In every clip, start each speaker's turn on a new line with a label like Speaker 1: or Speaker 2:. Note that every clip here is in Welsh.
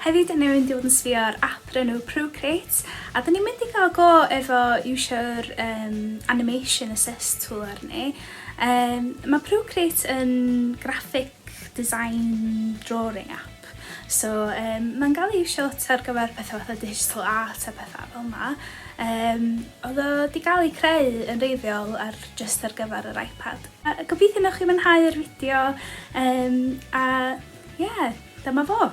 Speaker 1: Hefyd, newydd mynd i fod yn sbio ar app o'r enw Procreate, a dyn ni'n mynd i gael go efo iwsio'r um, Animation Assist tool arni. Um, mae Procreate yn graphic design drawing app. So, um, mae'n gael ei iwsio lot ar gyfer pethau fatha digital art a pethau fel yma. Um, oedd o wedi cael ei creu yn reiddiol ar just ar gyfer yr iPad. A gobeithio newch chi mwynhau'r fideo um, a ie, yeah, dyma fo!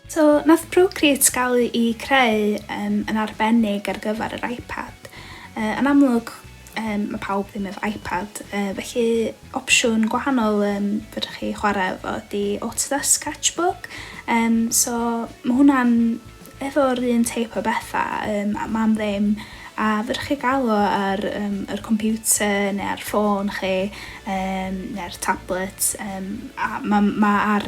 Speaker 1: So, nath Procreate gael i creu um, yn arbennig ar gyfer yr iPad. Uh, yn amlwg, um, mae pawb ddim efo iPad, uh, felly opsiwn gwahanol um, fydrych chi chwarae efo di Autodesk Sketchbook. Um, so, mae hwnna'n efo'r un teip o bethau, um, a mam ddim, a fydrych chi gael o ar um, yr computer neu ar ffôn chi, um, neu'r tablet, um, a mae ma ar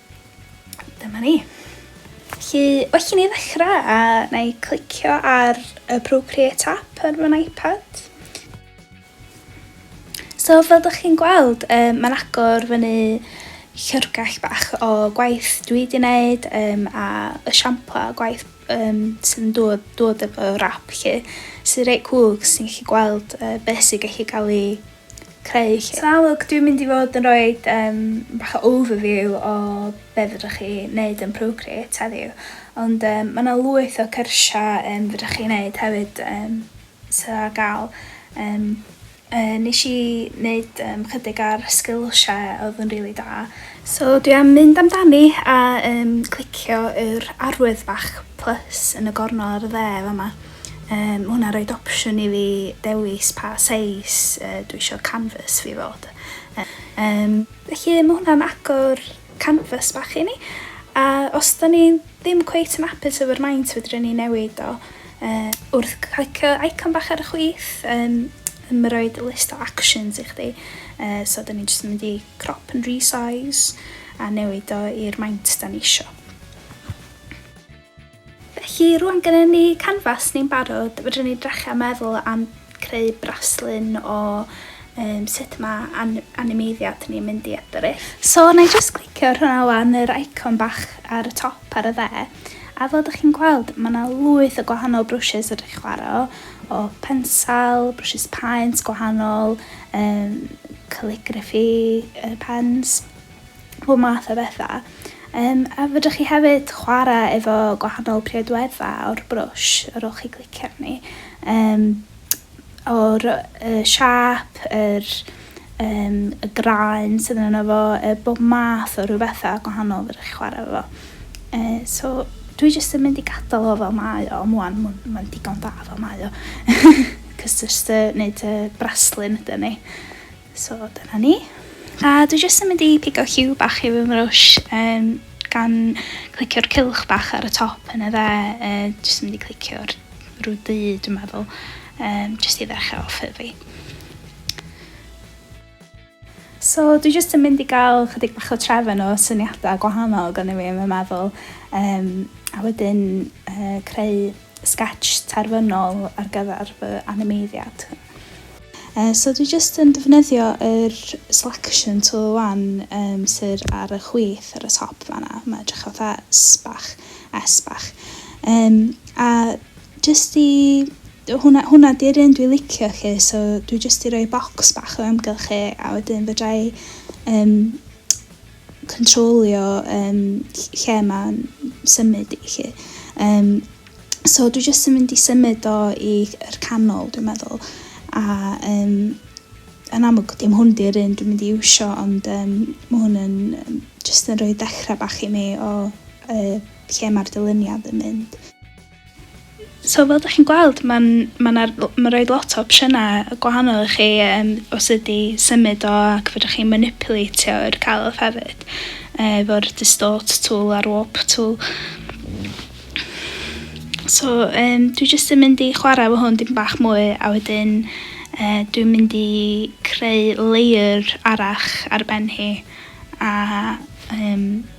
Speaker 1: Dyma ni. Felly, well i ni ddechrau a na i clicio ar y Procreate app ar fy iPad. So, fel ydych chi'n gweld, um, mae'n agor fyny llyfrgell bach o gwaith dwi wedi gwneud um, a y siampla o gwaith um, sy'n dod, dod efo rap lle sy'n reit cwg sy'n gallu gweld uh, beth sy'n gallu cael ei creu lle. Salam alwc dwi'n mynd i fod yn roid um, bach o overview o be fydrwch chi wneud yn Procreate heddiw ond um, mae yna lwyth o cyrsiau um, fydrwch chi wneud hefyd um, sydd ar gael um, uh, nes i wneud um, chydig ar sgilsiau oedd yn rili really da so dwi am mynd amdani a um, clicio yr arwydd bach plus yn y gornol ar y dde fama Yy ma' hwnna'n roid opsiwn i fi dewis pa seis yy dwi isio canfas fi fod. Yym felly ma' hwnna'n agor canfas bach i ni a os 'dan ni ddim cweit yn apus efo'r maint fedrwn ni newid o yy wrth clicio eicon bach ar y chwith yym ma' roid list o actions i chdi yy so 'dan ni jyst yn mynd i crop and resize a newid o i'r maint 'dan ni isio. Felly, rwan gynnon ni canfas ni'n barod, fedrwn ni drechio a meddwl am creu braslun o um, sut mae an animeiddiad ni'n mynd i edrych. So, na i just clicio ar hwnna wan, yr icon bach ar y top ar y dde, a fel ydych chi'n gweld, mae yna lwyth o gwahanol brwsys ydych chi'n chwarae o, pensal, brwsys paent gwahanol, um, calligraphy, uh, pens, pob math o bethau. Yym, a fedrwch chi hefyd chwarae efo gwahanol priodweddau o'r brwsh ar ôl chi glicio arni. Yym, o'r y siâp, yr um, y graen sydd yno fo, uh, bob math o rhyw bethau gwahanol fedrwch chi chwarae efo. Uh, so, dwi jyst yn mynd i gadael o fel mae o, mwan, mae'n digon da fel mae o. Cos jyst uh, neud y braslun ydy ni. So dyna ni. A dwi jyst yn mynd i pigo cue bach i fy mrwsh um, gan clicio'r cylch bach ar y top yn y dde, uh, jyst yn mynd i clicio'r rhyw du dwi'n meddwl, um, jyst i ddechrau off fi. So dwi jyst yn mynd i gael chydig bach o trefn o syniadau gwahanol gan i fi yn fy meddwl, um, a wedyn uh, creu sketch terfynol ar gyfer fy animeiddiad. Yy so dwi jyst yn defnyddio yr selection tool ŵan yym sydd ar y chwith ar y top fan'na, mae'n edrych fatha S bach, S bach yym a jyst i hwnna hwnna 'di'r un dwi'n licio 'lly so dwi jyst 'di rhoi bocs bach o amgylch e a wedyn fedra i yym cyntrolio yym lle ma'n symud i 'lly. Yym so dwi jyst yn mynd i symud o i yr canol dwi'n meddwl a yym yn amlwg dim hwn 'di'r un dwi'n mynd i iwsio ond yym ma' hwn yn yym jyst yn rhoi dechra bach i mi o yy lle ma'r dyluniad yn mynd. So fel 'da chi'n gweld ma'n ma' 'na l- ma' roid lot o opsiyna yy gwahanol i chi yym o sud i symud o ac fedrwch chi maniwpilatio'r celf hefyd yy efo'r distort tool a'r warp tool. So yym dwi jyst yn mynd i chwarae efo hwn dipyn bach mwy a wedyn yy dwi'n mynd i creu layer arall ar ben hi a yym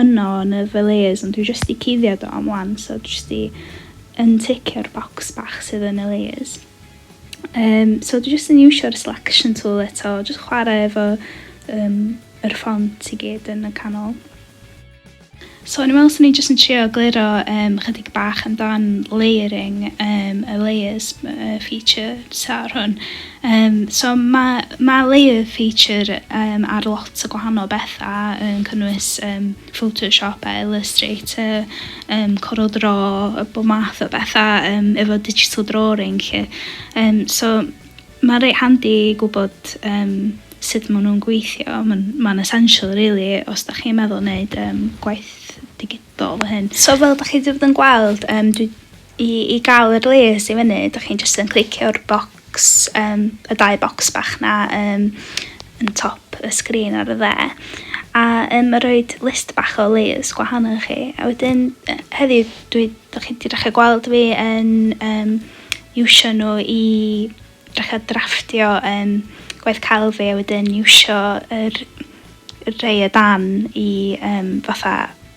Speaker 1: yno yn y Valleys ond dwi jyst 'di cuddio do am wan so dwi jyst 'di unticio'r bocs bach sydd yn y layers. Um, so dwi jyst yn iwsio'r selection tool eto, jyst chwarae efo um, yr ffont i gyd yn y canol. So yn ymwneud sy'n ni jyst yn trio gliro um, chydig bach amdan layering um, y layers uh, feature ar hwn. Yym so ma' ma' layer feature yym ar lot o gwahanol betha yn cynnwys yym photoshop a illustrator yym coral draw a bob math o betha yym efo digital drawing 'lly yym so ma'n reit handi gwbod yym sud ma' nw'n gweithio ma'n ma'n essential rili os 'dach chi'n meddwl neud yym gwaith digi- do fy hyn. So fel dach chi wedi bod yn gweld um, dwi, i, i gael yr les i fyny dach chi'n just yn clicio'r box, um, y dau box bach na um, yn top y sgrin ar y dde a um, mae rhoi list bach o les gwahanol i chi a wedyn heddiw dwi, dach chi wedi dechrau gweld fi yn um, iwsio nhw i Dechrau drafftio yym gwaith celf fi a wedyn iwsio yr yr rhei o dan i yym fatha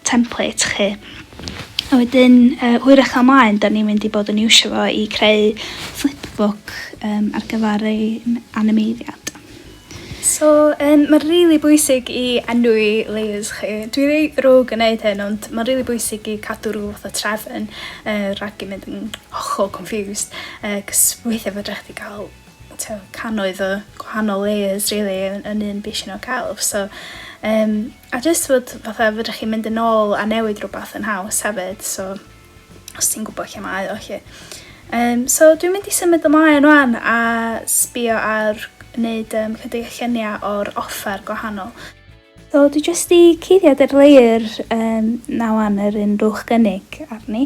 Speaker 1: template 'lly. A wedyn yy hwyrach fel 'mlaen 'dan ni'n mynd i bod yn iwsio fo i creu flipbook yym ar gyfar ein animeiddiad. So yym ma'n rili bwysig i enwi layers chi. Dwi rei ddrwg yn neud hyn ond ma'n rili bwysig i cadw rw fath o trefn yy rag 'im mynd yn hollol confused yy 'c'os weithia' fedrach chdi ga'l t'o' cannoedd o gwahanol layers rili yn yn un bishyn o celf so yym a jyst fod fatha fedrach chi mynd yn ôl a newid rwbath yn haws hefyd so os ti'n gwybod lle mae o lle. Um, so dwi'n mynd i symud ymlaen rwan a sbio ar wneud um, chydig o lluniau o'r offer gwahanol. So dwi jyst i cuddiad yr leir um, nawan yr un rwch gynnig arni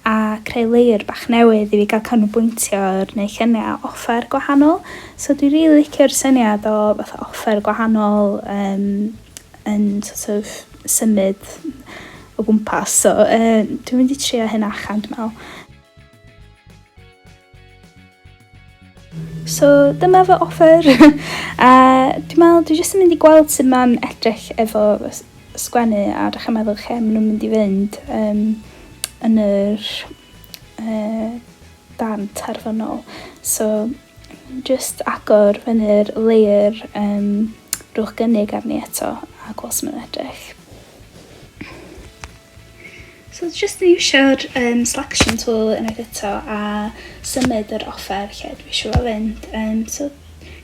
Speaker 1: a creu leir bach newydd i fi gael canolbwyntio ar neu lluniau offer gwahanol. So dwi'n rili really licio'r syniad o fath offer gwahanol um, yn sort of symud o gwmpas so yy dwi'n mynd i trio hyn allan dwi me'wl. So dyma fy offer a dwi'n me'wl dwi jyst yn mynd i gweld sut ma'n edrych efo sgwennu a dechra meddwl lle ma' nhw'n mynd i fynd um, yn yr uh, darn terfynol. So jyst agor fyny'r layer um, rhowch gynnig arni eto a gweld sut mae'n edrych. So just yn iwsio'r um, selection tool unwaith eto a symud yr offer lle dwi eisiau fo fynd. Um, so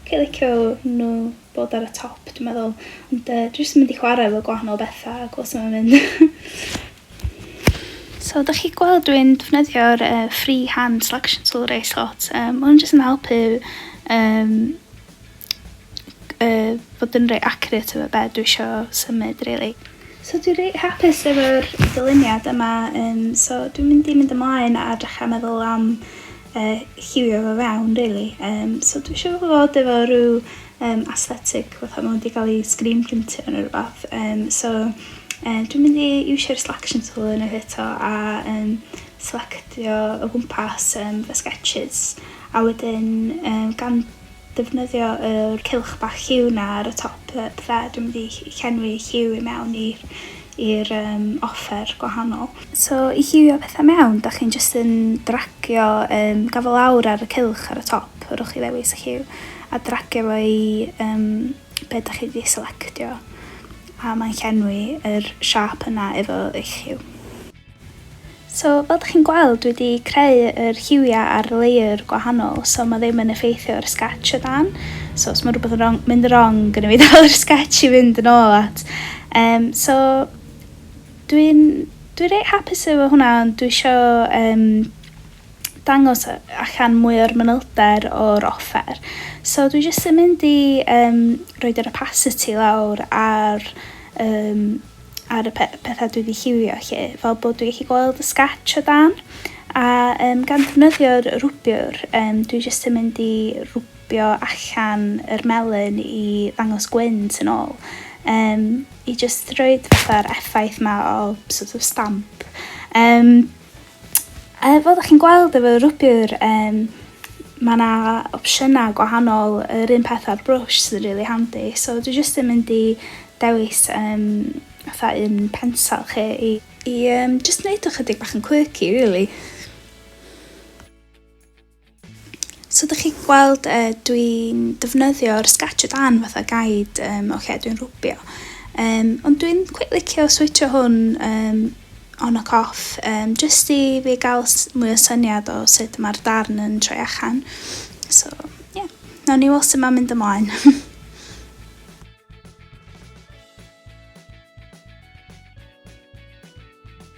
Speaker 1: cael licio nhw bod ar y top, dwi'n meddwl. Ond uh, dwi'n just mynd i chwarae efo gwahanol bethau a gweld sut mynd. so da chi gweld dwi'n defnyddio'r uh, free hand selection tool reis lot. Um, Mae'n jyst yn helpu um, yy bod yn rei accurate efo be' dwi isio symud rili. So dwi reit hapus efo'r dyluniad yma yym so dwi'n mynd i mynd ymlaen a dechra meddwl am yy lliwio fo fewn rili yym so dwi isio fo fod efo rw yym aesthetic fatha ma' 'di ga'l 'i screen printio ne' rwbath yym so yy dwi'n mynd i iwsio'r selection tool unwaith eto a yym selectio o gwmpas yym fy sgetshys a wedyn yym gan Defnyddio yr cylch bach Hue 'na ar y top yy bydda, dwi'n mynd i llenwi Hue i mewn i'r i'r yym offer gwahanol. So i Hueio petha mewn, dach chi'n jyst yn dragio yym gafael lawr ar y cylch ar y top, rhowch chi ddewis y Hue, a dragio fo i yym be' dach chi 'di selectio, a mae'n llenwi yr siâp yna efo eich Hue. So fel dych chi'n gweld dwi 'di creu yr lliwia a'r layer gwahanol so ma' ddim yn effeithio ar y sketch o dan so os ma' rwbeth yn rong mynd yn rong gynna fi dal yr sketch i fynd yn ôl at um, so dwi'n dwi reit hapus efo hwnna ond dwi isio um, dangos allan mwy o'r manylder o'r offer so dwi jyst yn mynd i um, roed yr opacity lawr ar um, ar y pe pethau dwi wedi lliwio lle, fel bod dwi wedi gweld y sketch o dan, a um, gan ddefnyddio'r rwbiwr, um, dwi jyst yn mynd i rwbio allan yr melyn i ddangos gwynt yn ôl, um, i jyst roed fatha'r effaith ma o sort of stamp. Um, Yy fel 'dach chi'n gweld efo rwbiwr yym ma' 'na opsiyna gwahanol yr un peth â'r brwsh sydd yn rili handi so dwi jyst yn mynd i dewis yym fatha un pensel 'lly i i yym jyst neud o chydig bach yn quirky rili. So ydych chi gweld e, dwi'n defnyddio'r Sketch o dan fatha guide um, o lle dwi'n rwbio. Um, ond dwi'n cweit licio switcho hwn um, on ac off, um, jyst i fi gael mwy o syniad o sut mae'r darn yn troi allan. So, ie, yeah. nawn ni weld sut mae'n mynd ymlaen.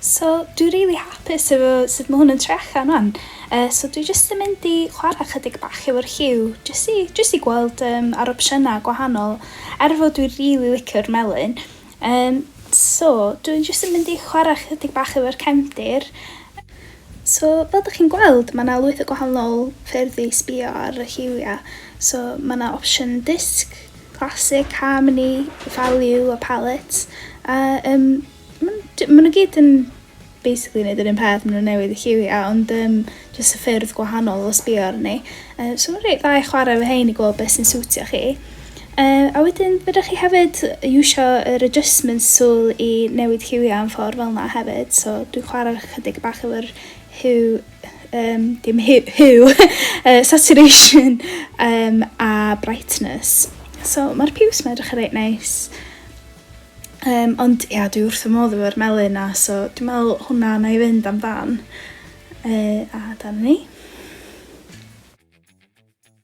Speaker 1: So dwi rili hapus efo sut mae hwn yn trecha rwan. Uh, so dwi jyst yn mynd i chwarae chydig bach efo'r lliw, jyst i, jyst i gweld um, ar opsiynau gwahanol, er fod dwi rili licio'r melyn. Yym so dwi'n jyst yn mynd i chwarae chydig bach efo'r cefndir. So fel dych chi'n gweld mae 'na lwyth o gwahanol ffyrdd i sbio ar y lliwiau. So mae 'na opsiwn disc, classic, harmony, value a palette a yym maen nhw gyd yn basically neud yr un peth ma' n'w newydd y lliwia ond yym jyst y ffyrdd gwahanol o sbio arni. Yy so ma'n reit dda i chware efo rhein i gweld beth sy'n siwtio chi. Yy a wedyn fedrwch chi hefyd iwsio yr adjustments tool i newid lliwia yn ffordd fel 'na hefyd so dwi'n chware chydig bach efo'r hue um, dim hue, hue uh, saturation um, a brightness. So mae'r piws 'ma edrych yn reit neis. Yym ond ia dwi wrth fy modd efo'r melyn 'na so dwi me'wl hwnna nâi fynd amdan. Yy a dyna ni.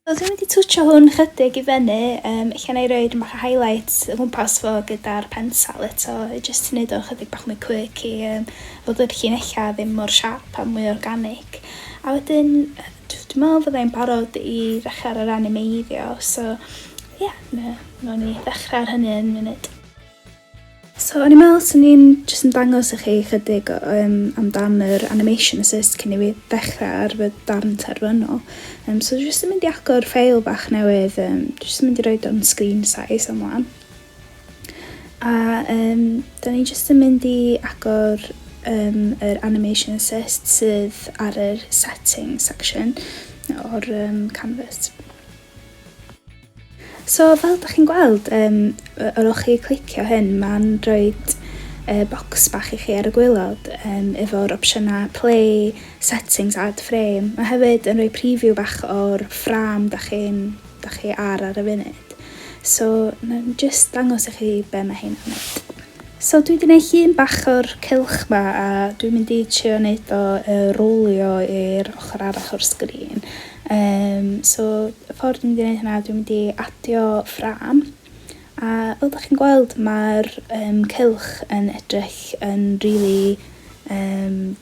Speaker 1: So dwi mynd i twtshio hwn chydig i fyny yym ella nâi roid bach o highlights o gwmpas fo gyda'r pensel eto i jyst neud o chydig bach mwy quirky yym fod yr llinella' ddim mor siâp a mwy organig. A wedyn yy dw- dwi me'wl fyddai'n barod i ddechra ar yr animeiddio so Ie, na, nawn ni ddechrau ar hynny yn munud. So, o'n i'n meddwl swn i'n jyst yn dangos i chi chydig um, amdan yr animation assist cyn i fi ddechrau ar fy darn terfynol. Um, so, jyst yn mynd i agor ffeil bach newydd, um, jyst yn mynd i roi o'n screen size am wan. A um, da ni jyst yn mynd i agor um, yr animation assist sydd ar yr setting section o'r um, canvas. So fel da chi'n gweld, um, yr o'ch chi clicio hyn, mae'n rhoi uh, bocs bach i chi ar y gwylod um, efo'r opsiynau play, settings, add frame. Mae hefyd yn rhoi preview bach o'r ffram da chi'n da chi ar ar y funud. So, na jyst dangos i chi be mae hyn yn mynd. So dwi wedi gwneud llun bach o'r cylch ma a dwi'n mynd i trio wneud o uh, rowlio i'r ochr arall o'r sgrin. Yym so y ffordd dwi'n mynd i wneud hynna dwi'n mynd i adio ffrâm a fel dach chi'n gweld mae'r um, cylch yn edrych yn really um,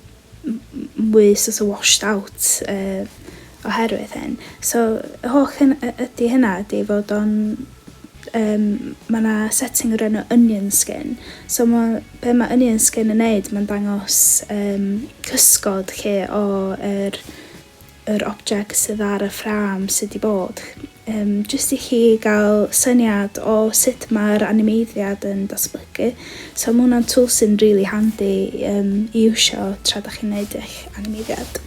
Speaker 1: mwy sort of washed out uh, oherwydd hyn. So y holl hyn ydy hynna ydy fod o'n um, mae yna setting o'r enw onion skin. So ma, be mae onion skin yn neud, mae'n dangos um, cysgod lle o'r er yr object sydd ar y ffrâm sy 'di bod, yym jyst i chi gael syniad o sut mae'r animeiddiad yn datblygu. So ma' hwnna'n tool sy'n rili handi yym i iwsio tra da chi'n neud eich animeiddiad.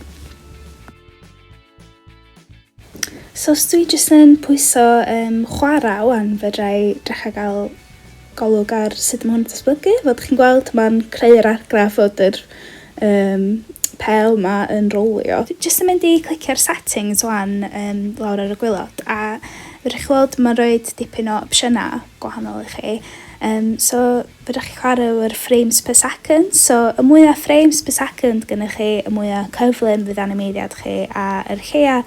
Speaker 1: So os dwi jyst yn pwyso yym chwara' ŵan fedra i dechra gael golwg ar sut mae hwn yn datblygu. Fel dych chi'n gweld mae'n creu yr argraff fod yr um, pel ma yn rowlio. Jyst yn mynd i clicio ar settings wan um, lawr ar y gwylod a fydwch chi weld mae'n rhoi dipyn o opsiynau gwahanol i chi. Um, so fydwch chi chwarae o'r frames per second, so y mwyaf frames per second gynnwch chi, y mwyaf cyflym fydd animeiddiad chi a yr lleia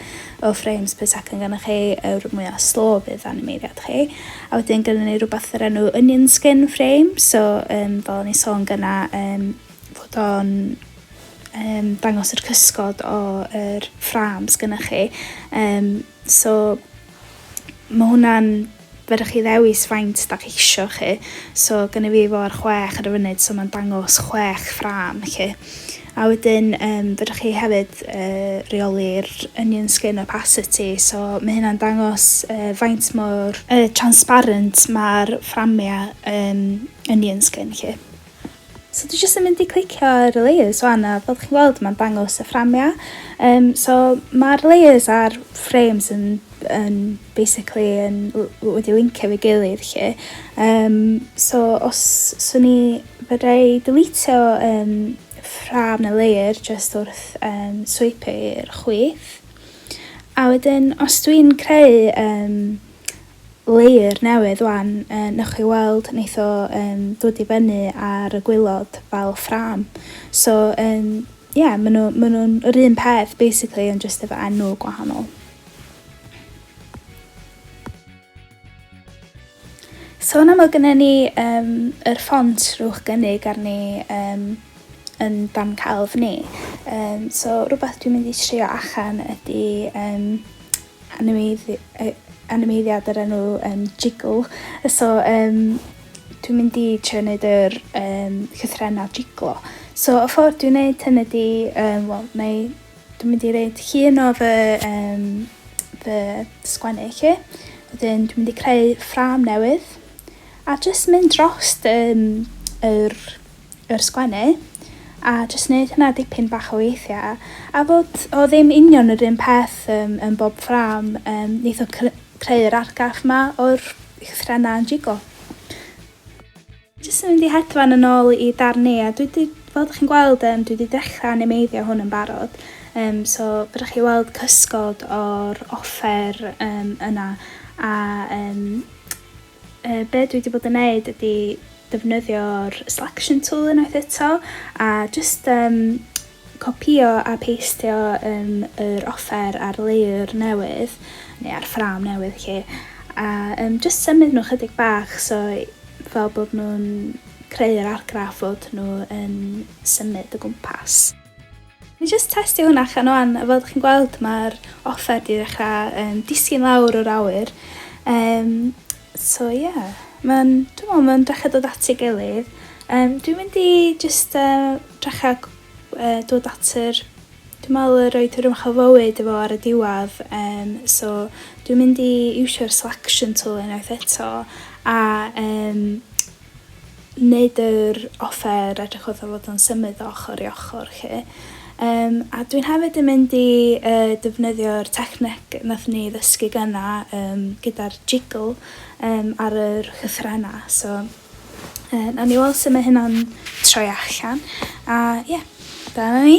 Speaker 1: o frames pwy sy'acen ganddoch chi yw'r mwya slo fydd animeiriad chi. A wedyn gynnon ni rhywbeth yr enw onion skin frame, so um, fel o'n i'n sôn gyna, um, fod o'n um, dangos yr cysgod o yr fframs gynnwch chi. Um, so mae hwnna'n Fedrwch chi ddewis faint dach isho chi, so gynna fi fo ar chwech ar y funud so ma'n dangos chwech ffrâm chi. A wedyn yym fedrwch chi hefyd yy reoli'r onion skin opacity so ma' hynna'n dangos yy faint mor yy transparent ma'r fframia yym onion skin chi. So dwi jyst yn mynd i clicio ar y layers wan a fel chi'n gweld mae'n dangos y fframia. Um, so mae'r layers a'r frames yn, yn basically yn, wedi linkio fe gilydd lle. Um, so os swn i fyddai deletio um, ffram neu layer just wrth um, swipe i'r chwith. A wedyn os dwi'n creu um, layer newydd wan yy newch chi weld neith o yym dod i fyny ar y gwilod fel ffrâm so yym ie ma' nw ma' nw'n yr un peth basically ond jyst efo enw gwahanol. Sôn am o gynne ni yym yr ffont rhowch gynnig arni yym yn dan celf ni yym so rwbath dwi'n mynd i trio achan ydi yym animeiddiad o'r enw um, Jiggle. So, um, dwi'n mynd i trio wneud yr um, llythrenau jiglo. So, y ffordd dwi'n wneud hyn ydy, um, wel, neu dwi'n mynd i wneud llun o fy, um, fy sgwennu chi. Wedyn, dwi'n mynd i creu ffram newydd. A jyst mynd dros um, yr yr sgwennu a jyst neud hynna dipyn bach o weithia a fod o ddim union yr un peth yym yn bob ffrâm yym neith o cr- creu yr argraff 'ma o'r llythrenne yn jigo. Jyst yn mynd i hedfan yn ôl i darn ni a dwi 'di fel dych chi'n gweld yym dwi 'di dechra animeiddio hwn yn barod yym so fedrwch chi weld cysgod o'r offer yym yna a yym Yy, be' dwi 'di bod yn neud ydi defnyddio'r selection tool unwaith eto a jyst yym copïo a peistio yym yr offer ar layer newydd neu ar ffrâm newydd 'lly a yym jyst symud nhw chydig bach so fel bod nhw'n creu'r argraff fod nhw yn symud o gwmpas. Ni jyst testio hwnna chan wan, a fel dych chi'n gweld mae'r offer di ddechrau um, disgyn lawr o'r awyr. Um, so ie, yeah. mae'n, dwi'n meddwl, mae'n dechrau dod at ei gilydd. Um, dwi'n mynd i jyst uh, dechrau uh, dod at yr Dwi'n meddwl yr oed yr ymchwil fywyd efo ar y diwedd, um, so dwi'n mynd i iwsio'r selection tool unwaith eto a um, nid yr offer edrychodd o fod yn symud o ochr i ochr 'lly. Yym a dwi'n hefyd yn mynd i yy defnyddio'r techneg nath ni ddysgu gynna yym gyda'r jiggle yym ar yr llythrena so yy nawn ni weld sut mae hynna'n troi allan a ie yeah, dyna ni.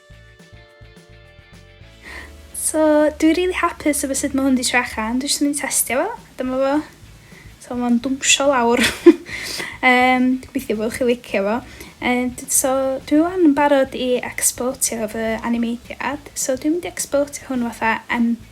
Speaker 1: So, dwi rili hapus efo sut mae hwn 'di trio allan. Dwi jyst yn mynd i testio fo, dyma fo. So mae'n dwmsio lawr. um, gobeithio bod chi licio fo. Um, so dwi wan yn barod i exportio fy animeithiad. So dwi'n mynd i exportio hwn fatha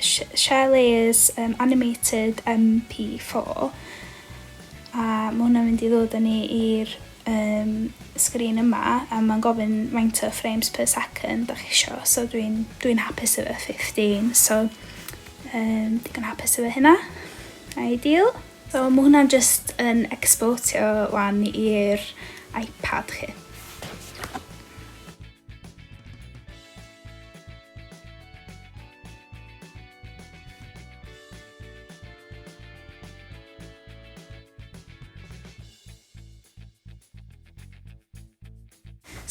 Speaker 1: Shelley's um, Animated MP4 a mae hwnna'n mynd i ddod â ni i'r um, sgrin yma a mae'n gofyn faint o frames per second da chi isio so dwi'n dwi, dwi hapus efo 15 so um, digon hapus efo hynna ideal so mae hwnna'n just yn exportio wan i'r iPad chi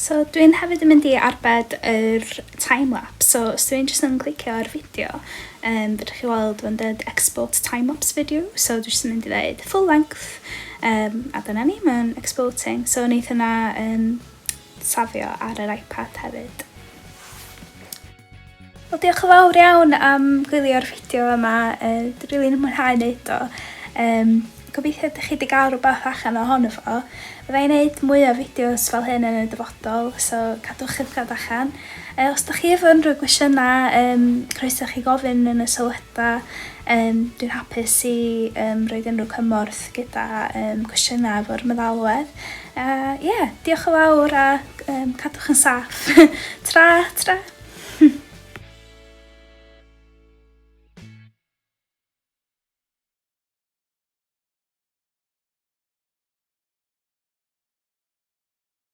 Speaker 1: So dwi'n hefyd yn mynd i arbed yr time-lapse, so os dwi'n jyst yn clicio ar fideo, um, fydwch chi weld fo'n dweud export time-lapse video, so dwi'n jyst yn mynd i ddeud full length, um, a dyna ni, mae'n exporting, so wneud hynna yn safio ar yr iPad hefyd. Wel diolch yn fawr iawn am gwylio'r fideo yma, uh, dwi'n rili'n really mwynhau wneud o. Um, gobeithio ydych chi wedi cael rhywbeth allan o hon efo. Fydda i'n gwneud mwy o fideos fel hyn yn y dyfodol, so cadwch ymchad allan. E, os da chi efo unrhyw gwestiynau, um, croeso chi gofyn yn y sylwadau. Um, dwi'n hapus i um, roed unrhyw cymorth gyda um, cwestiynau efo'r meddalwedd. A ie, diolch yn fawr a um, cadwch yn saff. tra, tra!